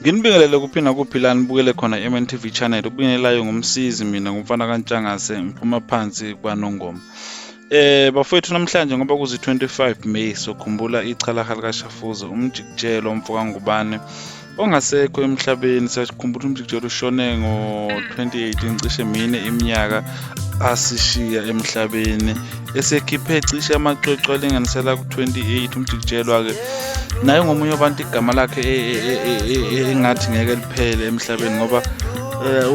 nginibingelele kuphi nakuphi la nibukele khona i-mn tv channel ubingelelayo ngumsizi mina ngumfana kantshangase ngiphuma phansi kwanongoma Eh bafowethu namhlanje ngoba kuzi 25 May sokhumbula ichalaha likaShafuza umjikijelo umfoka ngubane ongasekho emhlabeni siyakhumbula umjikijelo ushone ngo-2018 cishe mine iminyaka asishiya emhlabeni esekhiphe cishe amacwecwe alinganisela ku-28 umjikijelo-ke naye ngomunye wabantu igama lakhe e, e, e, engathi ngeke liphele emhlabeni ngoba eh,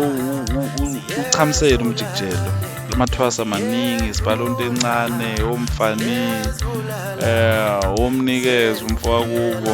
uchamsele umjikijelo amathwasa maningi isibhalonto encane omfani um eh, womnikeza umfowakubo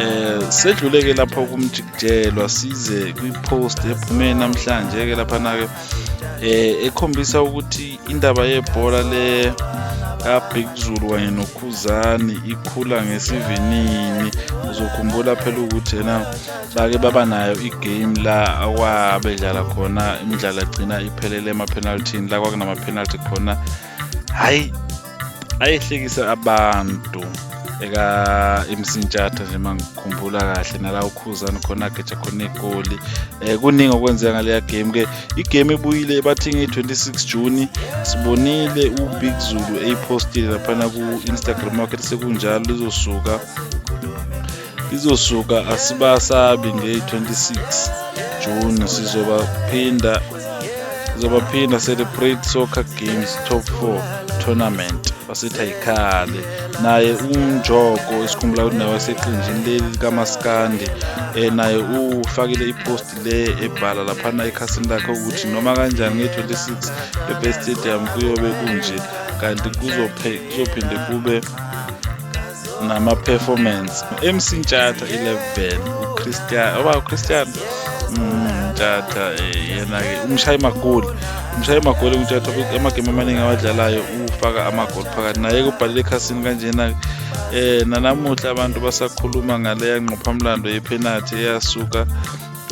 eh sedluleke lapha kumjikijelwa size kwi-post ephume namhlanje ke lapha nake eh ekhombisa ukuthi indaba yebhola le kaBig Zulu kanye noKhuzani ikhula ngesivinini uzokhumbula phela ukuthi yena bake baba nayo igame la akwabedlala khona imidlalo agcina iphelele emapenalthini la kwakunamapenalthi khona hhayi ayehlekisa abantu eka-imsintshatha nje uma ngikhumbula kahle nala ukhuzani khona ageja khona igoli um eh, kuningi okwenzeka ngaleya game-ke igame ebuyile ebathi nge-26 juni sibonile ubig zulu eyipostile laphana ku-instagram wakhe sekunjalo lizosuka Izosuka asibasabi nge-26 June sizobaphinda sizobaphinda celebrate soccer games top 4 tournament wasithi ayikhale naye unjoko esikhumbula ukuthi naye waseqenjini leli likamaskandi um naye ufakile iposti le ebhala laphana ekhasini lakhe ukuthi noma kanjani nge-26 ebest stadium kuyobe kunje kanti kuzophinde kube nama-performance mc ntshatha i-level ucristian oba ucristian mm, ntshatha eh, yena-ke umshayi magoli umshayi magoli untshatha amagemu amaningi awadlalayo ufaka amagoli phakathi naye kubhalele ekhasini kanjena-ke eh nanamuhla abantu basakhuluma ngaleya nqophamlando yephenathi eyasuka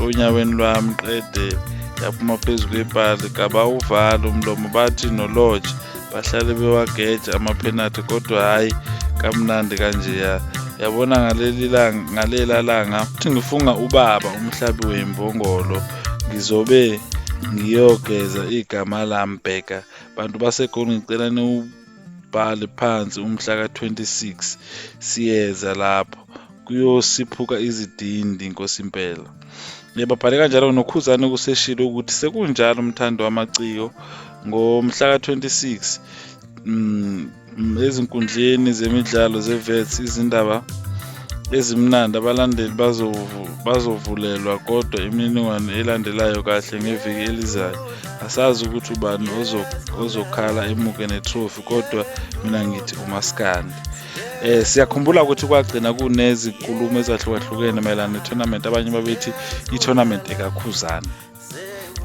onyaweni lwami qede yaphuma phezu kwepali kabawuvali umlomo bathi nolodge bahlale bewageja amaphenathi kodwa hhayi kamnandi kanjeya yabona ngaleli langa ngalela langa futhi ngifunga ubaba umhlabi wembongolo ngizobe ngiyogeza igama lami bheka bantu basegoli ngicela niwubhale phansi umhla ka-26 siyeza lapho kuyosiphuka izidindi inkosi impela Babhale kanjalo noKhuzane kuseshilo ukuthi sekunjalo umthandi wamaciko ngomhla ka-26 mm, mm, ezinkundleni zemidlalo ze-Wits izindaba ezimnandi abalandeli bazovulelwa kodwa imininingwane elandelayo kahle ngeviki elizayo asazi ukuthi ubani ozokhala emuke netrophy kodwa mina ngithi umaskandi Eh siyakhumbula ukuthi kwagcina kunezinkulumo ezahlukahlukene mayelana ne-tournament abanye babethi i-tournament ekakhuzana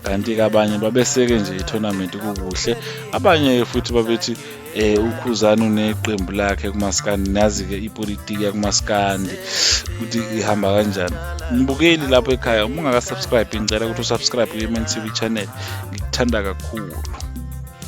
kanti-ke abanye babeseke nje i-tournament kukuhle abanye futhi babethi eh ukhuzana uneqembu lakhe kumaskandi nazi-ke ipolitiki yakumaskandi ukuthi ihamba kanjani mbukeli lapho ekhaya uma ungakasubscribe ngicela ukuthi usubscribe kwi-mntv channel ngikuthanda kakhulu